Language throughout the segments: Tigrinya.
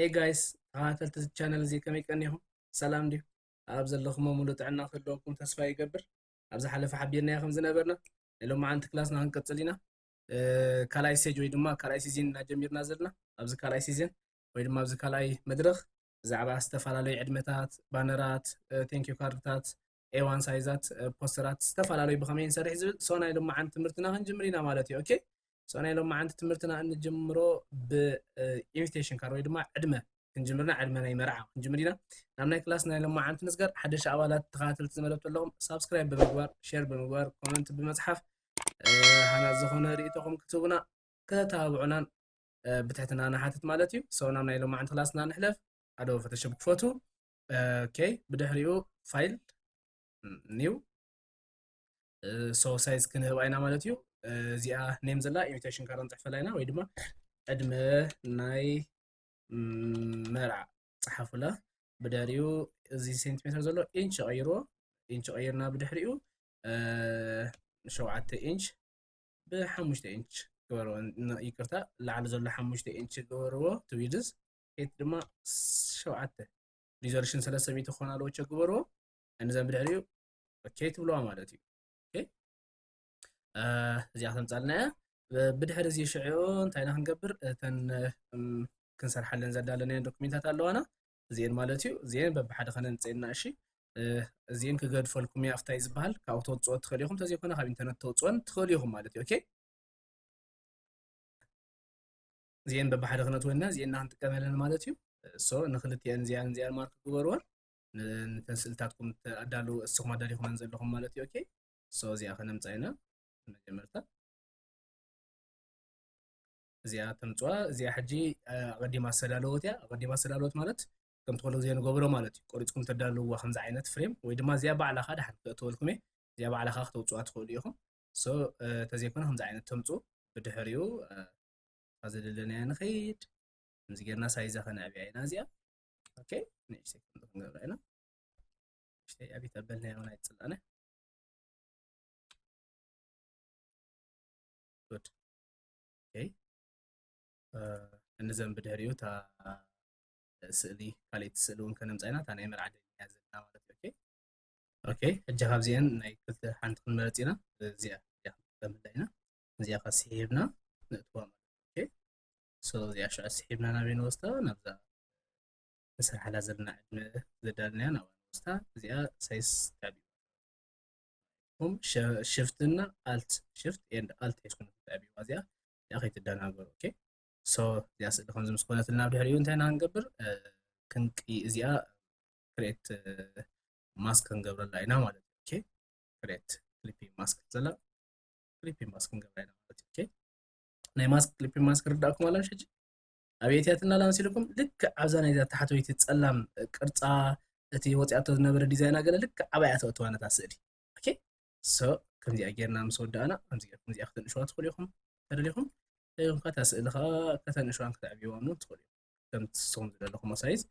ኤይ ጋይስ ተኸታተልቲ እዚ ቻነል እዚ ከመይ ቀኒኹም ሰላም ድዩ ኣብ ዘለኹሞ ሙሉ ጥዕና ክህልወኩም ተስፋ ይገብር ኣብ ዝሓለፈ ሓቢርናዮ ከም ዝነበርና ሎማዓንቲ ክላስና ክንቅፅል ኢና ካልኣይ ስቴጅ ወይ ድማ ካልኣይ ሲዝን ኢና ጀሚርና ዘለና ኣብዚ ካልኣይ ሲዝን ወይ ድማ ኣብዚ ካልኣይ መድረኽ ብዛዕባ ዝተፈላለዩ ዕድመታት ባነራት ቴንኪዩ ካርድታት ኤዋን ሳይዛት ፖስተራት ዝተፈላለዩ ብኸመይ ንሰርሕ ዝብል ሶናይ ሎማዓንቲ ትምህርትና ክንጅምር ኢና ማለት እዩ ኦኬ ሶናይ ሎማዓንቲ ትምህርትና እንጅምሮ ብኢንቪቴሽን ካርድ ወይ ድማ ዕድመ ክንጅምርና ዕድመ ናይ መርዓ ክንጅምር ኢና ናብ ናይ ክላስ ናይ ሎማዓንቲ ንስገር ሓደሻ ኣባላት ተኸታተልቲ ዝመደብቱ ኣለኹም ሳብስክራይብ ብምግባር ሼር ብምግባር ኮመንት ብምፅሓፍ ሃናት ዝኾነ ርእቶኹም ክትህቡና ከተተባብዑናን ብትሕትና ንሓትት ማለት እዩ ሰው ናብ ናይ ሎማዕንቲ ክላስና ንሕለፍ ኣዶ ፈተሸብ ክፈቱ ኦኬይ ብድሕሪኡ ፋይል ኒው ሰው ሳይዝ ክንህብ ኣይና ማለት እዩ እዚኣ ኔም ዘላ ኢሚቴሽን ካራ ንፅሕፈላ ኢና ወይ ድማ ዕድመ ናይ መርዓ ፀሓፉላ ብድሕሪኡ እዚ ሴንቲሜትር ዘሎ ኢንች ቀይርዎ ኢንች ቀይርና ብድሕሪኡ ሸውዓተ ኢንች ብሓሙሽተ ኢንች ግበርዎ ይቅርታ ላዕሊ ዘሎ ሓሙሽተ ኢንች ግበርዎ ትዊድስ ሄት ድማ ሸውዓተ ሪዞሉሽን ሰለስተ ሚእቲ ክኾን ኣለዎ ቸ ግበርዎ እንዘን ብድሕሪኡ ኦኬ ትብለዋ ማለት እዩ እዚኣ ከምፃልና እያ ብድሕሪ እዚ ሽዑ እንታይና ክንገብር እተን ክንሰርሓለን ዘዳለናየን ዶክሜንታት ኣለዋና እዚኤን ማለት እዩ እዚኤን በብሓደ ከነንፅኤና እሺ እዚኤን ክገድፈልኩም እየ ኣብታይ ዝበሃል ካብኡ ተውፅኦ ትኽእል ኢኹም ተዘይኮነ ካብ ኢንተርነት ተውፅኦን ትኽእል ኢኹም ማለት እዩ ኦኬ እዚኤን በብሓደ ክነትወና እዚኤና ክንጥቀመለን ማለት እዩ እሶ ንክልቲኤን እዚኣን እዚኣን ማርክ ግበርወን ንተንስልታትኩም ኣዳለዉ እስኹም ኣዳሊኹመን ዘለኹም ማለት እዩ ኦኬ እሶ እዚኣ ከነምፃ ኢና መጀመርታ እዚኣ ተምፅዋ እዚኣ ሕጂ ኣቐዲማ ዝተዳለወት እያ ኣቐዲማ ዝተዳለወት ማለት ከምቲ ኩሉ ግዜ ንገብሮ ማለት እዩ ቆሪፅኩም ተዳልውዋ ከምዚ ዓይነት ፍሬም ወይ ድማ እዚኣ ባዕላ ከዓ ድሓን ክተእትወልኩም እየ እዚኣ ባዕላ ከዓ ክተውፅዋ ትኽእሉ ኢኹም ሶ ተዘይኮነ ከምዚ ዓይነት ተምፁ ብድሕሪኡ ኣብዚ ደለናያ ንኸይድ ከምዚ ጌርና ሳይዛ ከነዕብያ ኢና እዚኣ ኦኬ ንእሽተይ ከምዚ ክንገብራ ኢና ንእሽተይ ኣብየት ኣበልናዮ ናይ ፅላነ እንዘን ብድሕሪኡ እታ ስእሊ ካልእቲ ስእሊ እውን ከነምፃ ኢና እታ ናይ መርዓ ደሊና ዘለና ማለት እዩ ኦኬ ሕጂ ካብዚአን ናይ ክልተ ሓንቲ ክንመረፅ ኢና እዚኣ እዚኣ ክንከምላ ኢና እዚኣ ካ ስሒብና ነእትዋ ማለት እዩ ሶ እዚኣ ሽዑ ስሒብና ናበይ ንወስዳ ናብዛ ንስርሓላ ዘለና ዕድመ ዘዳልናያ ናብኣ ንወስዳ እዚኣ ሳይስ ታብ እም ሽፍት እና ኣልት ሽፍት ኤንድ ኣልት ሒዝኩም ትዕብዋ እዚኣ እዚኣ ከይትደናገሩ ኦኬ ሶ እዚኣ ስእሊ ከምዚ ምስ ኮነትና ኣብ ድሕሪኡ እንታይ ኢና ክንገብር ክንቂ እዚኣ ክሬት ማስክ ክንገብረላ ኢና ማለት እዩ ኦኬ ክሬት ክሊፒ ማስክ ዘላ ክሊፒ ማስክ ክንገብራ ኢና ማለት እዩ ኦኬ ናይ ማስክ ክሊፒ ማስክ ርዳእኩም ኣላ ሕጂ ኣብየትያትና ላምሲልኩም ልክዕ ኣብዛ ናይዛ ታሕተወይቲ ጸላም ቅርጻ እቲ ወጺኣቶ ዝነበረ ዲዛይና ገለ ልክዕ ኣባያ ተእትዋ ነታ ስእሊ ኦኬ ሶ ከምዚኣ ጌርና ምስ ወዳእና ከምዚኣ ከምዚኣ ከተንእሽዋ ትኽእሉ ኢኹም ተደሊኹም ደሊኹም ከታ ስእሊ ከዓ ከተንእሽዋን ከተዕብይዋን እውን ትኽእሉ ከም ትስኹም ዝደለኹሞ ሳይዝ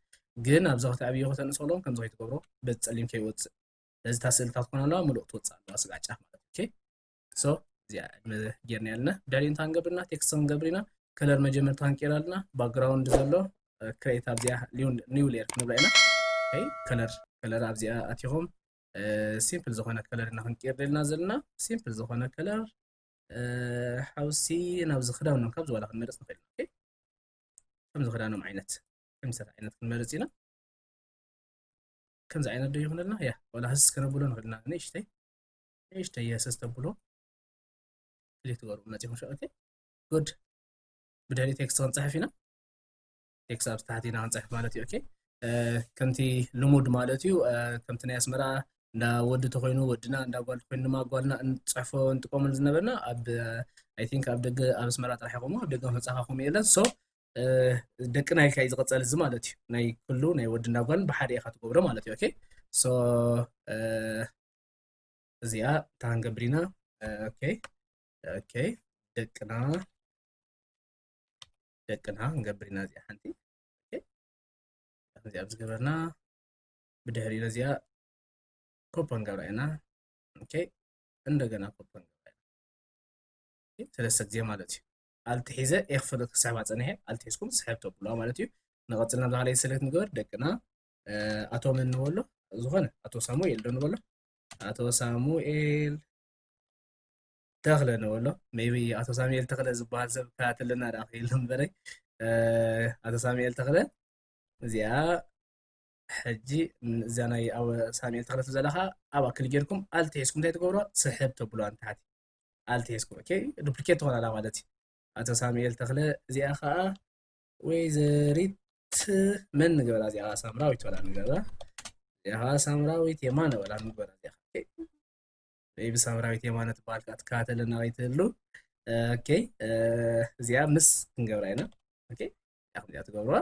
ግን ኣብዚ ከተዕብዮ ከተንእሰሎም ከምዚ ከይትገብሮ በዚ ጸሊም ከይወፅእ ስለዚ እታ ስእልታት ኮነ ኣለዋ ምሉእ ትወፅእ ኣለዋ ስጋዕ ጫፍ ማለት ኦኬ ሶ እዚኣ ዕድመ ጌርና ኣለና ዳሊ እንታይ ክንገብር ኢና ቴክስት ክንገብር ኢና ከለር መጀመርታ ክንቀይር ኣለና ባክግራውንድ ዘሎ ክሬት ኣብዚኣ ኒው ሌየር ክንብላ ኢና ከለር ከለር ኣብዚኣ ኣቲኹም ሲምፕል ዝኾነ ከለር ኢና ክንቀይር ደልና ዘለና ሲምፕል ዝኾነ ከለር ሓውሲ ናብዚ ክዳውኖም ካብ ዝዋላ ክንመርፅ ንኽእል ኢና ከምዚ ክዳኖም ዓይነት ከምሰት ዓይነት ክንመርፅ ኢና ከምዚ ዓይነት ዶ ይኹነልና ያ ዋላ ህስ ከነብሎ ንኽእል ኢና ንእሽተይ ንእሽተይ የሰስ ተብሉ ክሊክ ትገብሩ መፂኹም ሸ ኦኬ ጉድ ብድሕሪ ቴክስት ክንፅሕፍ ኢና ቴክስት ኣብ ታሕቲ ኢና ክንፅሕፍ ማለት እዩ ኦኬ ከምቲ ልሙድ ማለት እዩ ከምቲ ናይ ኣስመራ እንዳ ወዲ ተኮይኑ ወድና እንዳ ጓል ተኮይኑ ድማ ጓልና እንፅሕፎ እንጥቀመሉ ዝነበርና ኣብ ኣይ ቲንክ ኣብ ደገ ኣብ ኣስመራ ጥራሕ ይኮሞ ኣብ ደገ መፅኻኹም የለን ሶ ደቅና ኢልካ እዩ ዝቐፀል እዚ ማለት እዩ ናይ ኩሉ ናይ ወድና ጓልን ብሓደ ኢኻ ትገብሮ ማለት እዩ ኦኬ ሶ እዚኣ ታንገብር ኢና ኦኬ ኦኬ ደቅና ደቅና ንገብር ኢና እዚኣ ሓንቲ እዚኣ ዝገበርና ብድሕሪ ነዚኣ ኮፖ ንገብራ ኢና ኦኬ እንደገና ኮፖ ንገብራ ኢና ሰለስተ ግዜ ማለት እዩ ኣልቲ ሒዘ ኤክፈለ ክስሕባ ፀኒሐ ኣልቲ ሒዝኩም ስሕብ ተብሉዋ ማለት እዩ ንቐፅል ናብ ዝሃለየ ሰሌክት ንገበር ደቅና ኣቶ መን ንበሎ ዝኾነ ኣቶ ሳሙኤል ዶ ንበሎ ኣቶ ሳሙኤል ተኽለ ንበሎ ሜቢ ኣቶ ሳሙኤል ተኽለ ዝበሃል ሰብ ከታተለና ዳ ክህሉ እምበረይ ኣቶ ሳሙኤል ተኽለ እዚኣ ሕጂ እዛ ናይ ኣብ ሳሙኤል ተኽለ ዘለካ ኣብኣ ክሊ ጌርኩም ኣልቲ ሒዝኩም እንታይ ትገብሮ ስሕብ ተብሎ ኣንታሓቲ ኣልቲ ሒዝኩም ኦኬ ዱፕሊኬት ትኾናላ ማለት እዩ ኣቶ ሳሙኤል ተኽለ እዚኣ ከዓ ወይዘሪት መን ንገበራ እዚኣ ከዓ ሳምራዊት በላ ንገበራ እዚኣ ከዓ ሳምራዊት የማነ በላ ንገበራ እዚኣ ወይ ብሳምራዊት የማነ ትበሃል ከዓ ትከታተለና ወይ ትህሉ ኦኬ እዚኣ ምስ ክንገብራ ኢና ኦኬ ከምዚኣ ትገብርዋ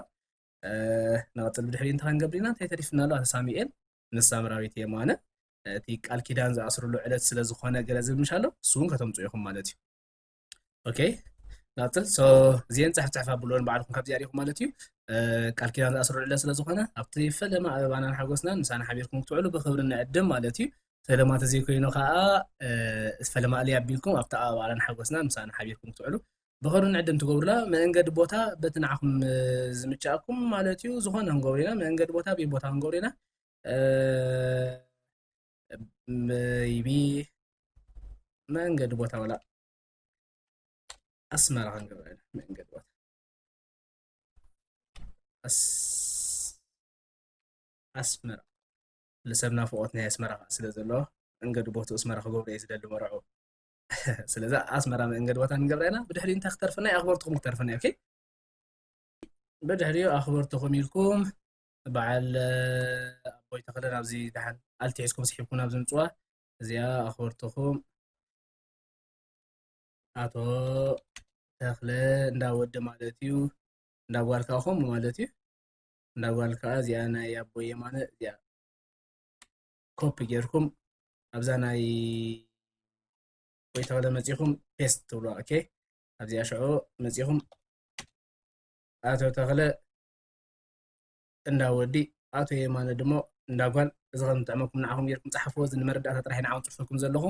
ንቐፅል ብድሕሪ እንታይ ክንገብር ኢና እንታይ ተሪፍና ኣሎ ኣቶ ሳሙኤል ምስ ሳምራዊት የማነ እቲ ቃል ኪዳን ዝኣስርሉ ዕለት ስለ ዝኾነ ገለ ዝብል ምሻ ኣሎ ንሱ እውን ከተምፅኡ ኢኹም ማለት እዩ ኦኬ ናጽል ሶ እዚኤን ጻሕ ጻሕ ኣብሉን ባዕልኩም ካብዚኣ ሪኹም ማለት እዩ ቃል ኪዳን ዝኣስርዕለ ስለ ዝኾነ ኣብቲ ፈለማ ኣበባናን ሓጎስናን ምሳና ሓቢርኩም ክትውዕሉ ብክብሪ ንዕድም ማለት እዩ ፈለማ ተዘይኮይኑ ከዓ ፈለማ እልይ ኣቢልኩም ኣብቲ ኣበባናን ሓጎስናን ምሳና ሓቢርኩም ክትውዕሉ ብክብሪ ንዕድም ትገብሩላ መንገዲ ቦታ በቲ ንዓኹም ዝምቻእኩም ማለት እዩ ዝኾነ ክንገብሩ ኢና መንገዲ ቦታ ቤት ቦታ ክንገብሩ ኢና መይቢ መንገዲ ቦታ ወላ ኣስመራ ክንገብረ መንገዲ ቦታ ኣስመራ ንሰብ ናፍቆት ናይ ኣስመራ ስለ ዘለዎ መንገዲ ቦቱ ኣስመራ ክገብሩ እየ ዝደሊ መርዑ ስለዚ ኣስመራ መንገዲ ቦታ ንገብረ ኢና ብድሕሪ እንታይ ክተርፍና ኣኽበርትኹም ክተርፍና እዩ ብድሕሪኡ ኣኽበርትኹም ኢልኩም በዓል ኣቦይ ተኽለ ናብዚ ደሓን ኣልቲ ሒዝኩም ስሒብኩም ናብዚ ምጽዋ እዚኣ ኣኽበርትኹም ኣቶ ተኽለ እንዳ ወዲ ማለት እዩ እንዳ ጓል ከዓ ከምኡ ማለት እዩ እንዳ ጓል ከዓ እዚኣ ናይ ኣቦይ የማነ እዚኣ ኮፒ ጌርኩም ኣብዛ ናይ ወይ ተኸለ መፂኹም ፔስት ትብሎ ኦኬ ኣብዚኣ ሽዑ መፂኹም ኣቶ ተኽለ እንዳ ወዲ ኣቶ የማነ ድሞ እንዳ ጓል እዚ ከም ዝጥዕመኩም ንዓኹም ጌርኩም ጸሓፍዎ እዚ ንመረዳእታ ጥራሕ ንዓኹም ጽሑፍኩም ዘለኹ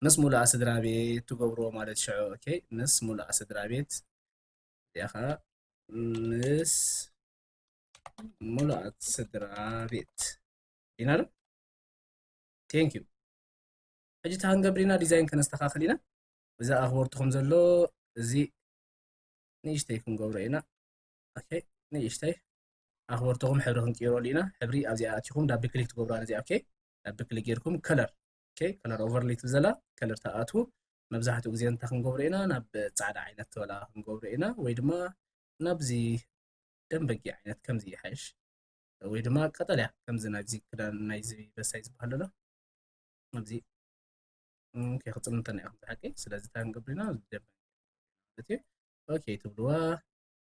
ምስ ሙሉኣ ስድራቤት ትገብርዎ ማለት ሽዑ ኦኬ ምስ ሙሉኣ ስድራቤት እዚኣ ከኣ ምስ ሙሉኣት ስድራቤት ኢና ዶ ቴንክ ዩ ሕጂ እታ ክንገብር ኢና ዲዛይን ከነስተኻኽል ኢና እዛ ኣኽበርትኹም ዘሎ እዚ ንእሽተይ ክንገብሮ ኢና ኦኬ ንእሽተይ ኣኽበርትኹም ሕብሪ ክንቅይረሉ ኢና ሕብሪ ኣብዚኣ ኣትኹም ዳቢ ክሊክ ትገብሩ ኣነዚኣ ኦኬ ዳቢ ክሊክ ጌርኩም ከለር ኦኬ ከለር ኦቨርሌይ ትብል ዘላ ከለር ተኣትዉ መብዛሕትኡ ግዜ እንታይ ክንገብሮ ኢና ናብ ፃዕዳ ዓይነት ተበላ ክንገብሮ ኢና ወይ ድማ ናብዚ ደንበጊ ዓይነት ከምዚ ይሓይሽ ወይ ድማ ቀጠልያ ከምዚ ናይዚ ክዳን ናይዚ በሳይ ዝበሃል ኣሎ ኣብዚ ከይክፅል እንተና ኢኹም ዝሓቂ ስለዚ እንታይ ክንገብር ኢና ደንበጊ ማለት እዩ ኦኬ ትብልዋ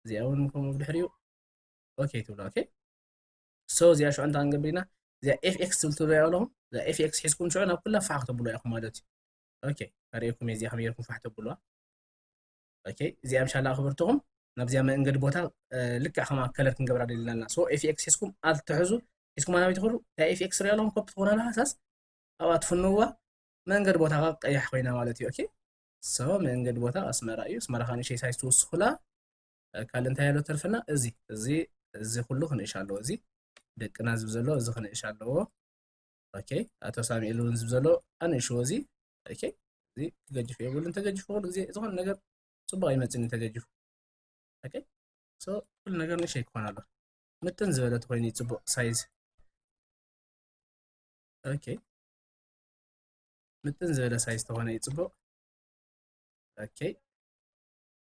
እዚኣ እውን ከምኡ ብድሕሪኡ ኦኬ ትብላ ኦኬ ሶ እዚኣ ሽዑ እንታይ ክንገብር ኢና እዚኣ ኤፍ ኤክስ ትብል ትርእዩ ኣለኹም እዛ ኤፍ ኤክስ ሒዝኩም ሽዑ ናብ ኩላ ፋሕ ክተብሉ ኢኹም ማለት እዩ ኦኬ ኣርእየኩም እዚኣ ከመይ ጌርኩም ፋሕ ተብሉዋ ኦኬ እዚኣ ምሻላ ክብርትኹም ናብዚኣ መንገዲ ቦታ ልክዕ ከማ ከለር ክንገብራ ደሊና ኣለና ሶ ኤፍ ኤክስ ሒዝኩም ኣል ትሕዙ ሒዝኩም ኣናበይ ትኽእሉ እታ ኤፍ ኤክስ ሪኦ ኣለኹም ኮፒ ትኾና ሃሳስ ኣብኣ ትፍንውዋ መንገዲ ቦታ ቀያሕ ኮይና ማለት እዩ ኦኬ ሰው መንገድ ቦታ ኣስመራ እዩ ኣስመራ ካን ሸይ ሳይዝ ትውስኹላ ካልእ እንታይ ኣሎ ተርፍና እዚ እዚ እዚ ኩሉ ክንእሽ ኣለዎ እዚ ደቅና ዝብ ዘሎ እዚ ክንእሽ ኣለዎ ኦኬ ኣቶ ሳሙኤል እውን ዝብ ዘሎ ኣንእሽዎ እዚ ኦኬ እዚ ክገጅፍ የብሉን ተገጅፉ ኩሉ ግዜ ዝኾነ ነገር ፅቡቅ ኣይመፅን እዩ ተገጅፉ ኦኬ ሶ ኩሉ ነገር ንእሽተይ ክኾን ኣሎ ምጥን ዝበለት ኮይኑ ፅቡቅ ሳይዝ ኦኬ ምጥን ዝበለ ሳይዝ ተኾነ እዩ ፅቡቕ ኦኬ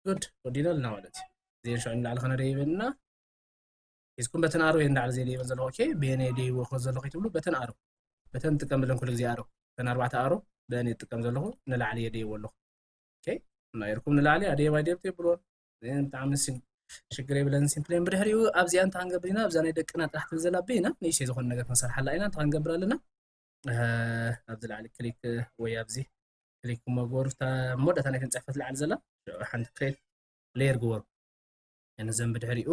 ጉድ ወዲና ኣለና ማለት እዩ እዚን ሽዑ ንላዕሊ ከነደ ይበልና ሒዝኩም በተን ኣሮ እየ ንላዕሊ ዘይ ይበል ዘለኹ ኦኬ ብየነ ደይዎ ከ ዘለኹ ይትብሉ በተን ኣሮ በተን ንጥቀም ብለን ኩሉ ግዜ ኣሮ በተን ኣርባዕተ ኣሮ በአን እየ ዝጥቀም ዘለኹ ንላዕሊ እየ ደይዎ ኣለኹ ኦኬ ናይርኩም ንላዕሊ ኣደየ ባይደብቲ ይብልዎ ብጣዕሚ ሽግር የብለን ሲምፕሌን ብድሕሪኡ ኣብዚኣ እንተሃንገብር ኢና ኣብዛ ናይ ደቅና ጥራሕ ትብል ዘላ በይና ንእሽተይ ዝኾነ ነገር ክንሰርሓላ ኢና እንተሃንገብር ኣለና ኣብዚ ላዕሊ ክሊክ ወይ ኣብዚ ክሊክ መግበሩ መወዳእታ ናይ ክንፅሕፈት ላዕሊ ዘላ ሽዑ ሓንቲ ክሬት ሌየር ግበሩ ንዘን ብድሕሪኡ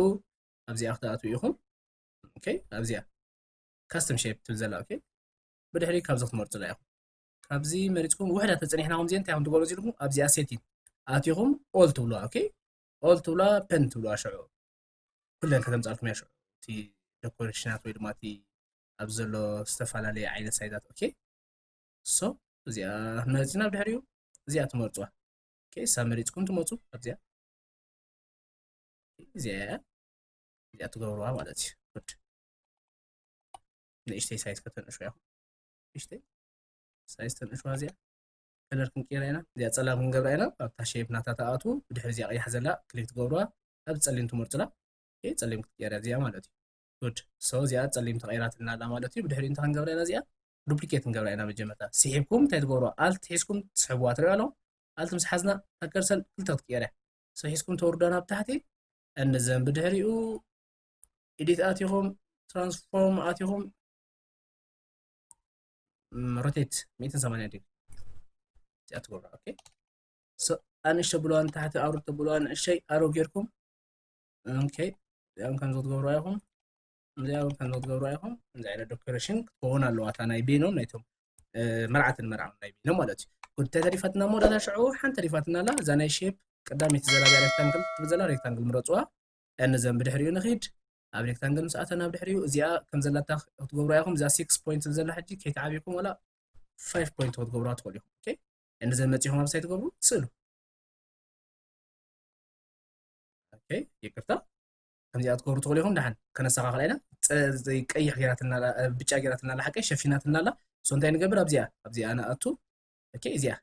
ኣብዚኣ ክትኣትዉ ኢኹም ኦኬ ኣብዚኣ ካስተም ሼፕ ትብል ዘላ ኦኬ ብድሕሪ ካብዚ ክትመርፁላ ኢኹም ካብዚ መሪፅኩም ውሕዳ ተፀኒሕና ከምዚ እንታይ ከም ትገብሩ ኢልኩም ኣብዚኣ ሴቲን ኣትኹም ኦል ትብሉዋ ኦኬ ኦል ትብሉዋ ፐን ትብሉዋ ሽዑ ኩለን ከተምፃልኩም እያ ሽዑ እቲ ደኮሬሽናት ወይ ድማ እቲ ኣብ ዘሎ ዝተፈላለየ ዓይነት ሳይዛት ኦኬ ሶ እዚኣ መሪፅና ኣብ ድሕሪኡ እዚኣ ትመርፅዋ ኦኬ እሳ መሪፅኩም ትመፁ ኣብዚኣ እዚኣ እያ እዚኣ ትገብርዋ ማለት እዩ ጉድ ንእሽተይ ሳይዝ ከተንእሹ ያኹ ንእሽተይ ሳይዝ ተንእሹዋ እዚኣ ከለር ክንቅይራ ኢና እዚኣ ፀላም ክንገብራ ኢና ኣብታ ሸይፕ ናታ ተኣቱ ብድሕሪ እዚኣ ቀያሕ ዘላ ክሊክ ትገብርዋ ኣብ ፀሊም ትመርፅላ ፀሊም ክትቀይራ እዚኣ ማለት እዩ good so እዚኣ ጸሊም ተቀይራትና ኣላ ማለት እዩ ብድሕሪኡ እንታይ ክንገብራ ኢና እዚኣ ዱፕሊኬት ክንገብራ ኢና መጀመርታ ስሒብኩም እንታይ ትገብሩ ኣልት ሒዝኩም ትስሕብዋ ትሪኦ ኣለኹም ኣልት ምስ ሓዝና ኣከርሰል ክልተ ክትቀየር እያ so ሒዝኩም ተወርዳ ናብ ታሕቲ እንዘን ብድሕሪኡ ኤዲት ኣቲኹም ትራንስፎርም ኣቲኹም ሮቴት 180 ዲግሪ እዚኣ ትገብሩ ኦኬ ኣንእሽተ ብለዋ ንታሕቲ ኣውርድ ተብለዋ ንእሸይ ኣሮ ጌርኩም ኦኬ እዚኦም ከምዚ ክትገብሩ ኣይኹም እዚኦም ከምዚ ክትገብሩ ኣይኹም እዚ ዓይነት ዶክተሬሽን ክትከውን ኣለዋ እታ ናይ ቤኖም ናይቶም መርዓትን መርዓም ናይ ቤኖም ማለት እዩ ጉድ ተተሪፋትና እሞ ዳታ ሽዑ ሓንቲ ተሪፋትና ኣላ እዛ ናይ ሼፕ ቀዳመይቲ ዘላብያ ሬክታንግል ትብል ዘላ ሬክታንግል ምረፅዋ ያንዘን ብድሕሪኡ ንኽድ ኣብ ሬክታንግል ምስ ኣተና ብድሕሪኡ እዚኣ ከም ዘላታ ክትገብሩ ያኹም እዛ ሲክስ ፖይንት ዘላ ሕጂ ከይተዓብኩም ወላ ፋይቭ ፖይንት ክትገብሩዋ ትኽእሉ ኢኹም ያንዘን መፂኹም ኣብ ሳይ ትገብሩ ትስእሉ ይቅርታ ከምዚኣ ትገብሩ ትኽእሉ ኢኹም ድሓን ከነስተኻኽላ ኢና ቀይሕ ጌራትና ብጫ ጌራትና ኣላ ሓቀይ ሸፊናትና ኣላ እሶ እንታይ ንገብር ኣብዚኣ ኣብዚኣ ንኣቱ እዚኣ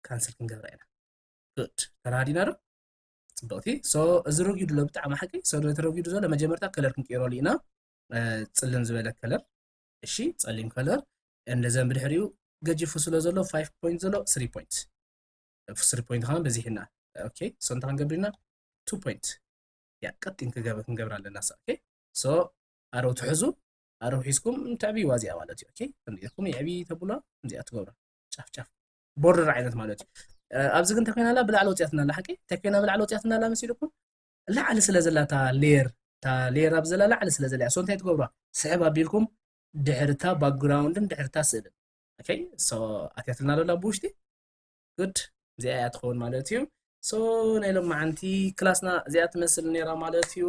ካንስል ክንገብራ ኢና ጉድ ተረሃዲና ዶ ፅብቕቲ ሶ እዚ ረጊዱ ሎ ብጣዕሚ ሓቂ ሶ ተረጊዱ ዘሎ መጀመርታ ከለር ክንቅይረሉ ኢና ፅልም ዝበለ ከለር እሺ ፀሊም ከለር እንደዘን ብድሕሪኡ ገጂፉ ስለ ዘሎ 5 ፖይንት ዘሎ 3 ፖይንት ፍስሪ ፖይንት ከማን በዚሕና ኦኬ ሶ እንታይ ክንገብር ኢና ቱ ፖይንት ያ ቀጢን ክገብ ክንገብር ኣለና ሳ ኦኬ ሶ ኣረው ትሕዙ ኣረው ሒዝኩም ተዕብይዋ እዚኣ ማለት እዩ ኦኬ ከምዚ ኢልኩም የዕብዪ ተብሎ ከምዚኣ ትገብራ ጫፍ ጫፍ ቦርደር ዓይነት ማለት እዩ ኣብዚ ግን እንታይ ኣላ ብላዕሊ ወፅያትና ኣላ ሓቂ እንታይ ኮይና ብላዕሊ ወፅያትና ኣላ መሲልኩም ላዕሊ ስለ ዘላ እታ ሌየር እታ ሌየር ኣብ ዘላ ላዕሊ ስለ ዘላ ሶ እንታይ ትገብሯ ስሕብ ኣቢልኩም ድሕርታ ባክግራውንድን ድሕርታ ስእልን ኦኬ ሶ ኣትያትልና ዶላ ብውሽጢ good እዚኣ እያ ትኸውን ማለት እዩ ሶ ናይ ሎማዓንቲ ክላስና እዚኣ ትመስል ነይራ ማለት እዩ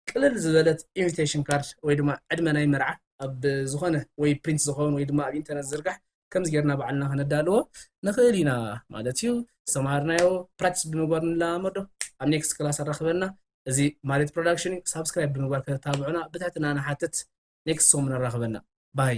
ቅልል ዝበለት ኢንቪቴሽን ካርድ ወይ ድማ ዕድመ ናይ መርዓ ኣብ ዝኾነ ወይ ፕሪንት ዝኸውን ወይ ድማ ኣብ ኢንተርነት ዝርጋሕ ከምዚ ጌርና ባዕልና ከነዳልዎ ንኽእል ኢና ማለት እዩ ዝተምሃርናዮ ፕራክቲስ ብምግባር ንለማመዶ ኣብ ኔክስት ክላስ ኣራኽበና እዚ ማሬት ፕሮዳክሽን እዩ ሳብስክራይብ ብምግባር ከተታብዑና ብትሕትና ንሓትት ኔክስት ሶም ንራኽበና ባይ